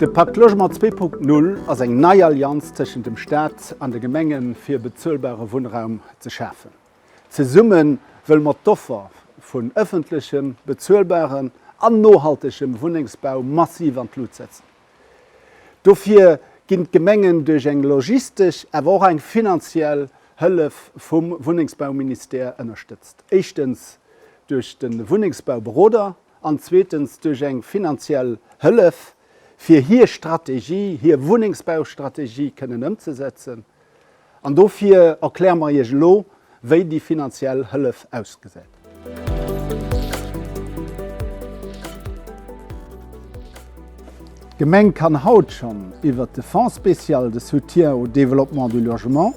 De Pakt Logement 2.0 ass eng nei Allianz tëschent dem Staat an de Gemenge fir bezuelbare Wunnraum ze schafen. Zesumme wëlle mer d'Offer vun ëffentlechem, bezuelbarem an nohaltegem Wunnengsbau massiv an d'Lut setzen. Dofir ginn d'Gemengen duerch eng logistesch awer och eng finanziell Hëllef vum Wunnengsbauministère ënnerstëtzt, éischtens duerch de Wunnengsbauberoder an zweetens duerch eng finanziell Hëllef, fir hir Strategie, hir Wunnengsbaustrategie kënnen ëmzesetzen. An dofir erkläre mer Iech elo, wéi déi finanziell Hëllef ausgesäit. D'Gemeng kann haut schonn iwwert de Fonds spécial de soutien au développement du logement,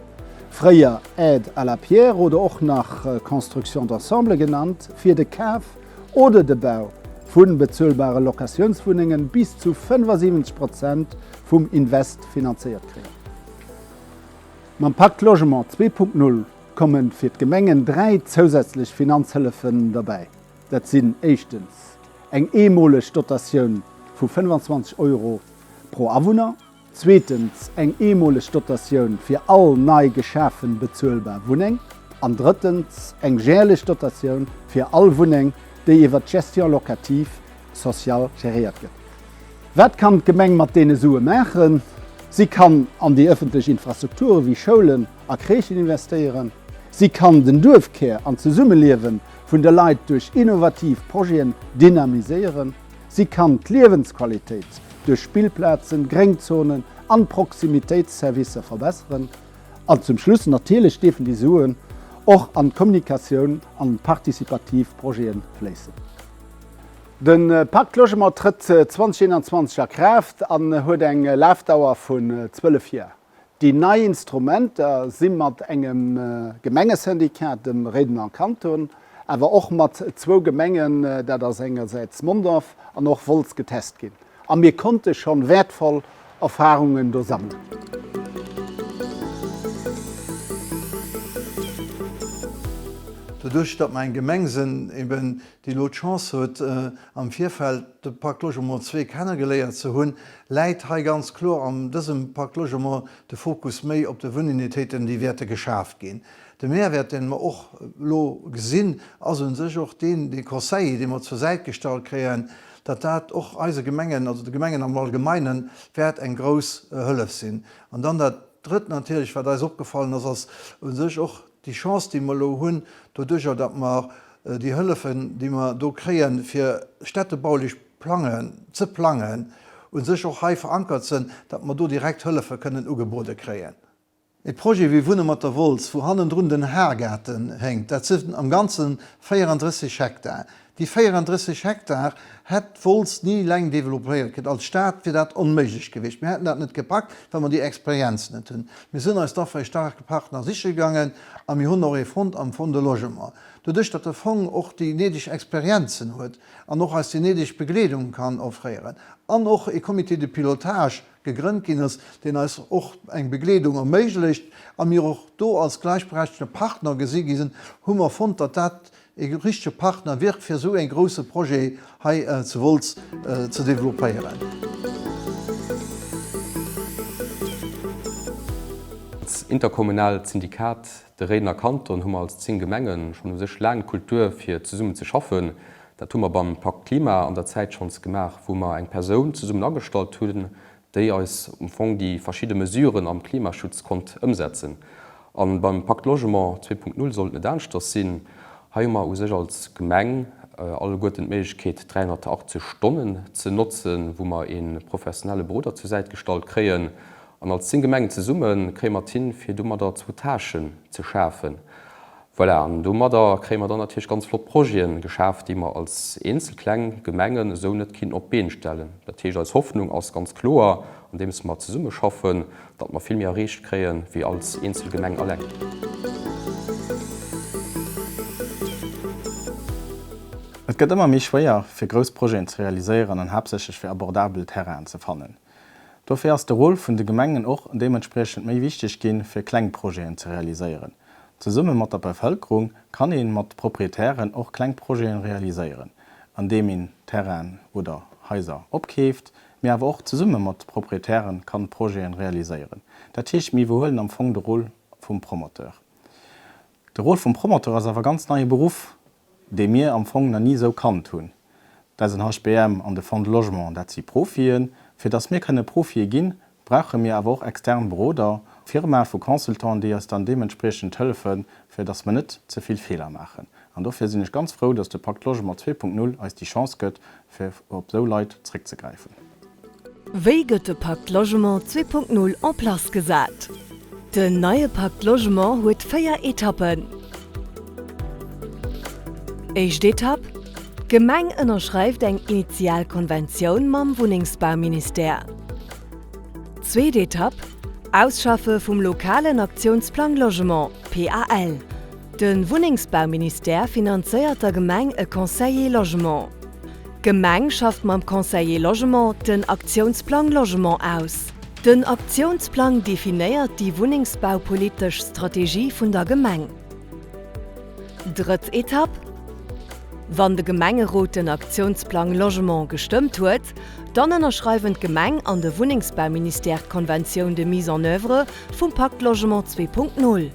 fréier Aide à la pierre oder och nach Construction d'ensemble genannt, fir de Kaf oder de Bau vu bezuelbare Locatiounswunnengen bis zu 75 Prozent vum Invest finanzéiert kréien. Mam Pacte Logement 2.0 komme fir d'Gemengen dräi zousätzlech Finanzhëllefen derbäi. Dat sinn éischtens eng eemoleg Dotatioun vu 25 Euro pro Awunner, zweetens eng eemoleg Dotatioun fir all nei geschafe bezuelbar Wunneng an drëttens eng järlech Dotatioun fir all Wunneng, déi iwwer d'Gestion locative sociale geréiert gëtt. Wat kann d'Gemeng mat deene Sue maachen? Si kann an déi ëffentlech Infrastrukture wéi Schoulen a Crèchen investéieren. Si kann den Duerfkär an d'Zesummeliewen vun de Leit duerch innovativ Projeten dynamiséieren. Si kann d'Liewensqualitéit duerch Spillplazen, Gréngzonen an Proximitéitsservicer verbesseren. An zum Schluss, natierlech dierfen déi Suen och an d'Kommunikatioun an participativ Projeten fléissen. De Pacte Logement trëtt 2021 a Kraaft an huet eng Lafdauer vun 12 Joer. Déi nei Instrumenter si mat engem Gemengesyndicat, dem Réidener Kanton, awer och mat zwou Gemengen, dat ass engersäits Mondorf an och Wolz, getest ginn a mir konnte schonn wäertvoll Erfarungen do sammelen. Doduerch, datt mer eng Gemeng sinn, déi elo d'Chance huet am Virfeld de Pacte Logement zwee kennegeléiert ze hunn, läit hei ganz kloer an dësem Pacte Logement de Fokus méi op de Wununitéiten, déi wäerte geschaaft ginn. De Mehrwäert, deen mer och elo gesinn, ass un sech och deen, dee Conseiller, dee mer zur Säit gestallt kréien, datt dat och eise Gemengen, also de Gemengen am Allgemeinen, wäert eng grouss Hëllef sinn. An dann dat Drëtt natierlech, wat eis opgefallen ass, ass un sech och, Déi Chance, déi mer elo hunn, doduerjer datt mer déi Hëllefen, déi mer do kréien, fir städtebaulech plangen, ze plangen, u sech och hei verankert sinn, datt mer do direkt Hëllefe kënnen ugebode kréien. E Projet wéi Wunne mat der Wolz, wou hannendrun den Haargaarten héngt, dat sinn am Ganze 34 Hektar, Déi 34 Hektar hätt d'Wolz ni eleng developéiert kritt. Als Stad wier dat onméiglech gewiescht. Mir hätten dat net gepackt, well mer déi Experienz net hunn. Mir sinn eis dofir e staarke Partner siche gaangen a mir hunn och ee fonnt am Fonds de Logement. Doduerch datt de Fong och déi néideg Experienzen huet an och eis déi néideg Begleedung kann offréieren an och ee Comité de pilotage gegrënnt ginn ass, deen eis och eng Begleedung erméiglecht a mir och do als gläichberechtegte Partner gesi gi sinn, hu mer fonnt, datt dat E richtege Partner wier fir esou ee grousse Projet hei zu Wolz ze developpéieren. D'Interkommunaalt Syndikat De Réidener Kanton hu mer als 10 Gemenge schonn u sech laang d'Kultur fir zesummen ze schaffen. Dat hu mer beim Pakt Klima an der Zäit schonns gemaach, wou mer eng Persoun zesummen agestallt hunn, déi eis am Fong déi verschidde Mesuren am Klimaschutz konnt ëmsetzen. A beim Pacte Logement 2.0 soll et net aneschters sinn. Hei hu mer u sech als Gemeng alleguerten d'Méiglechkeet, 380 Stonnen ze notzen, wou mer ee professionelle Beroder zur Säit gestallt kréien. An als 10 Gemengen zesumme kréie mer et hin, fir domadder zwou Tâchen ze schafen. Voilà, an domadder kréie mer dann natierlech ganz flott Projete geschaaft, déi mer als eenzel kleng Gemengen esou net kinnten op d'Been stellen. Dat heescht, eis Hoffnung ass ganz kloer, andeems mer zesummeschaffen, datt mer vill méi erreecht kréie wéi als eenzel Gemeng eleng. Et gëtt ëmmer méi schwéier, fir grouss Projeten ze realiséieren an haaptsächlech fir abordabel Terrainen ze fannen. Dofir ass de Rôle vun de Gemengen och deementspriechend méi wichteg ginn, fir kleng Projeten ze realiséieren. Zesumme mat der Bevëlkerung kann ee mat Proprietären och kleng Projeten realiséieren, andeem een Terrainen oder Haiser opkeeft, mee awer och zesumme mat Proprietären kann Projeten realiséieren. Dat heescht, mir iwwerhuelen am Fong de Rôle vum Promoteur. De Rôle vum Promoteur ass awer e ganz neie Beruff, dee mir am Fong na ni esou kannt hunn. D'SNHBM an de Fonds de Logement, dat si Profien. Fir datt mir kënne Profie ginn, brauche mir awer och extern Beroder, Firmae vu Consultanten, déi eis dann deementspriechend hëllefen, fir datt mer net ze vill Feeler maachen. An dofir sinn ech ganz frou, datt de Pacte Logement zwee Punkt Null eis déi Chance gëtt, fir op esou Leit zréckzegräifen. Wéi gëtt de Pacte Logement 2.0 en place gesat? Den neie Pacte Logement huet véier Etappen. Éischt Etapp, D'Gemeng ënnerschreift eng initial Konventioun mam Wunnengsbauministère. Zweet Etapp, Ausschaffe vum lokalen Aktiounsplang Logement, PAL. De Wunnengsbauministère finanzéiert der Gemeng e Conseiller Logement. D'Gemeng schafft mam Conseiller Logement den Aktiounsplang Logement aus. Den Aktiounsplang definéiert déi wunnengsbaupolitesch Strategie vun der Gemeng. Drëtt Etapp, Wann de Gemengerot den Aktiounsplang Logement gestëmmt huet, dann ënnerschreiwen d'Gemeng an de Wunnengsbauministère d'Conventioun de mise en œuvre vum Pacte Logement 2.0.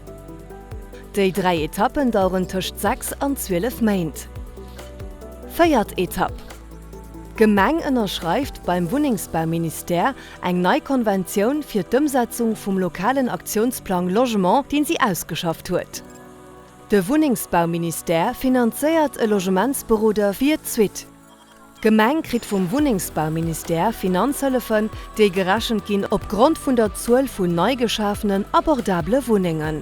Déi dräi Etappen daueren tëscht 6 an 12 Méint. Véiert Etapp, D'Gemeng ënnerschreift beim Wunnengsbauministère eng nei Konventioun fir d'Ëmsetzung vum lokalen Aktiounsplang Logement, deen si ausgeschafft huet. De Wunnengsbauministère finanzéiert e Logementsberoder fir d'Suite. D'Gemeng kritt vum Wunnengsbauministère Finanzhëllefen, déi gerechent ginn opgrond vun der Zuel vun nei geschafenen abordabele Wunnengen.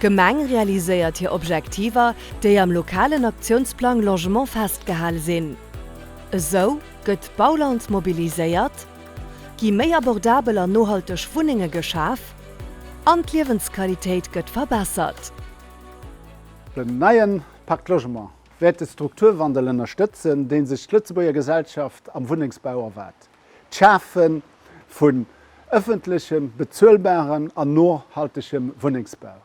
D'Gemeng realiséiert hir Objektiver, déi am lokalen Aktiounsplang Logement festgehal sinn. Esou gëtt d'Bauland mobiliséiert, gi méi abordabel an nohalteg Wunnenge geschaf an d'Liewensqualitéit gëtt verbessert. Den neien Pacte Logement wäert de Strukturwandel ënnerstëtzen, dee sech d'Lëtzebuerger Gesellschaft am Wunnengsbau erwaart, d'Schafe vun ëffentlechem, bezuelbarem an nohaltegem Wunnengsbau.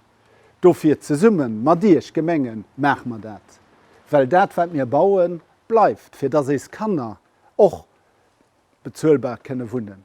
Dofir, zesumme mat Iech Gemengen, maache mer dat, well dat wat mir bauen, bleift, fir datt éis Kanner och bezuelbar kënne wunnen.